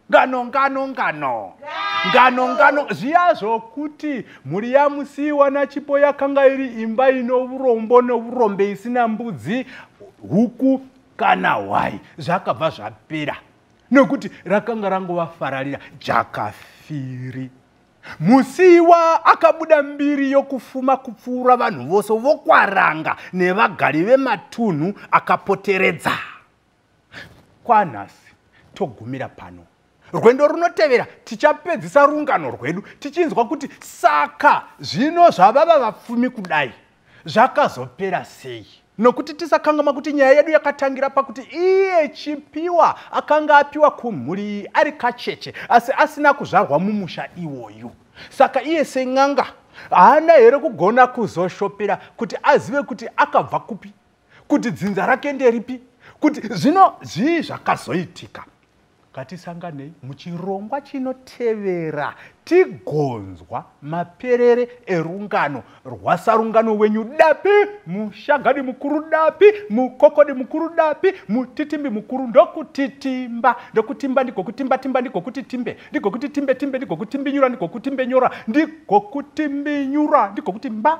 ngano ngano ngano ngano ngano zviya zvokuti mhuri yamusiiwa nachipo yakanga iri imba ino urombo nourombe isina mbudzi huku kana hwai zvakabva zvapera nokuti rakanga rangova fararira jakafiri musiiwa akabuda mbiri yokufuma kupfuura vanhu vose vokwaranga nevagari vematunhu akapoteredza kwanhasi togumira pano rwendo runotevera tichapedzisa rungano rwedu tichinzwa kuti saka zvino zvavava vapfumi kudai zvakazopera sei nokuti tisakangama kuti nyaya yedu yakatangira pakuti iye chipiwa akanga apiwa kumhuri iyi ari kacheche asi asina kuzvarwa mumusha iwoyu saka iye sen'anga haana here kugona kuzoshopera kuti azive kuti akabva kupi kuti dzinza rake nderipi kuti zvino zvii zvakazoitika ngatisanganei muchirongwa chinotevera tigonzwa maperere erungano rwasarungano wenyu dapi mushagadi mukuru dapi mukokodi mukuru dapi mutitimbi mukuru ndokutitimba ndokutimba ndigokutimbatimba ndigokuti timbe ndigokuti timbe timbe ndigokutimbinyura ndigokutimbenyura ndigokutimbinyura ndigokuti mba